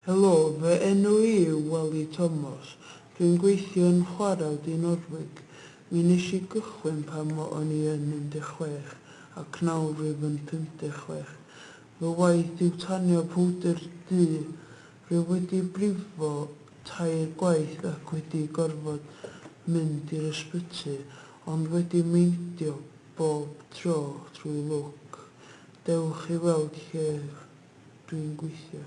Helo, fy enw i yw Weli Tomos, dwi'n gweithio yn chwarel Dinordwig. Mi nes i gychwyn pan fo o'n i yn 16 ac nawr rwyf yn 56. Fy waith yw tanio powdr du. Rwyf wedi brifo tair gwaith ac wedi gorfod mynd i'r ysbyty, ond wedi meindio bob tro trwy lwc. Dewch i weld lle dwi'n gweithio.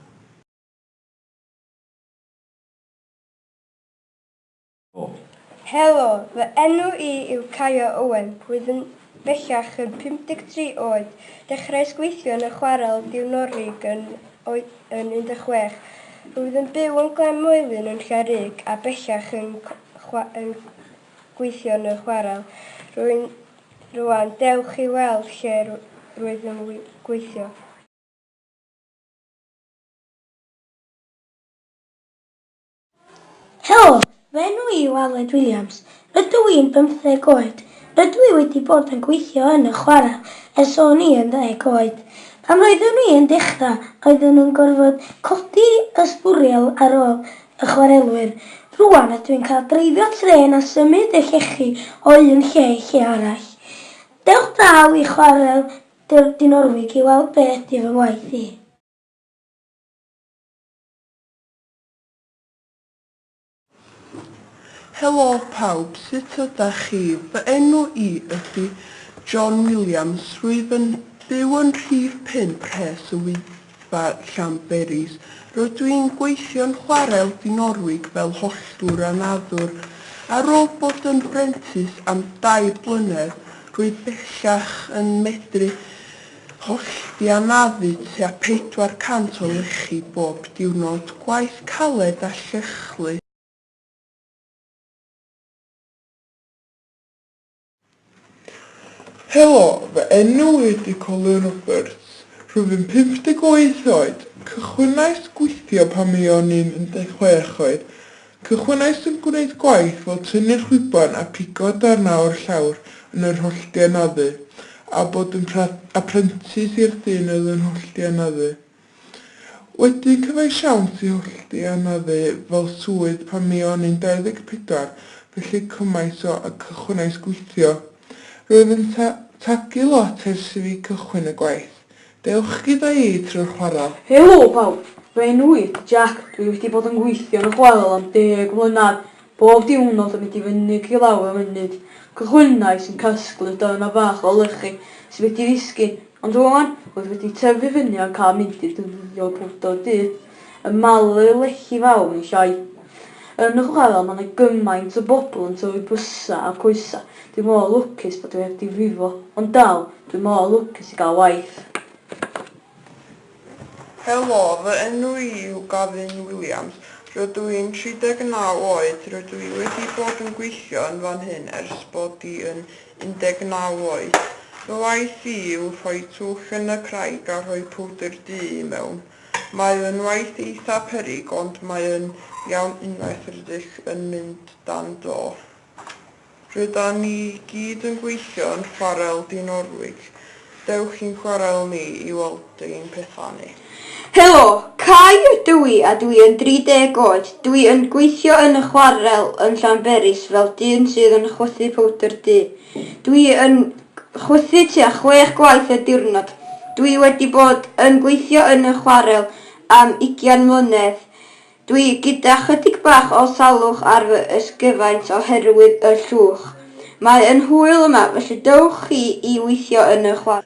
Helo, fy enw i yw Caio Owen, rwy'n bellach yn 53 oed. Dechreuais gweithio yn y chwarel diwnorig yn oed yn 16. Rwyf yn byw yn Glan Moelyn yn Lle Rug a bellach yn yn gweithio yn y chwarel. Rwy'n rwan dewch i weld lle rwyf yn gweithio. Helo, fy enw i yw Aled Williams. Rydw i'n bymtheg oed. Rydw i wedi bod yn gweithio yn y chwarel ers o'n i yn ddeg oed. Pan roeddwn i yn dechrau, roeddwn nhw'n gorfod codi y sbwriel ar ôl y chwarelwyr. Rŵan ydw i'n cael dreifio trên a symud y llechi o un lle i lle arall. Dewch draw i chwarel Dewch dŷ Norwig i weld be ydy fy ngwaith i. Helo pawb, sut ydach chi? Fy enw i ydy John Williams, rwyf yn byw yn rhif pump Rhes y Wyddfa. Spa Llanberis. Rydw i'n gweithio'n chwarel Dinorwig fel holltwr a naddwr. Ar ôl bod yn brentis am dair blynedd, rwyf bellach yn medru hollti a naddu tua 400 o lechi bob diwrnod, gwaith caled a llychlu. Helo, fy enw ydy Colin Roberts. Rwyf yn 58 oed. Cychwynais gweithio pan mi o'n i'n 16 oed. Cychwynais yn gwneud gwaith fel tynnu chwiban a pigo darnau o'r llawr yn yr hollti anafu, a bod yn aprentis i'r dyn oedd yn hollti anafu. Wedi cyfaisiawnt i hollti anaddu fel swydd pan mi o'n i'n 24, felly cymaint o a cychwynais gweithio. Roedd yn ta tagu lot ers i fi cychwyn y gwaith. Dewch gyda i trwy'r chwarel. Helo pawb! Fy enw i ydy Jack, dwi wedi bod yn gweithio yn y chwarel am deg mlynedd. Bob diwrnod yn mynd i fynyg i lawr y mynydd, cychwynnais yn casglu darnau bach o lechi sydd wedi disgyn, ond rŵan, roedd wedi tyfu fyny a'n cael mynd i dwrio powdr du, yn malu lechi fawr yn llai. Yn y chwarel mae 'na gymaint o bobl yn torri bysau a coesau, dwi mor lwcus bod fi heb difrifo, ond dal, dwi mor lwcus i gael waith. Helo, fy enw i yw Gavin Williams. Rydw i'n 39 oed, rydw i wedi bod yn gweithio yn fan hyn ers bod i yn 19 oed. Fy waith i yw rhoi twll yn y craig a rhoi powdr du i mewn. Mae yn waith eitha peryg ond mae yn iawn unwaith rydych yn mynd dan do. Rydan ni gyd yn gweithio yn chwarel Dinorwig, dewch i'n chwarel ni i weld ein pethau ni. Helo! Cai ydw i a dwi yn 30 oed, dwi yn gweithio yn y chwarel yn Llanberis fel dyn sydd yn chwythu powdr du. Dwi yn chwythu tua chwech gwaith y diwrnod. Dwi wedi bod yn gweithio yn y chwarel am ugian mlynedd. Dwi gyda chydig bach o salwch ar fy ysgyfaint oherwydd y llwch. Mae yn hwyl yma felly dewch chi i weithio yn y chwarel.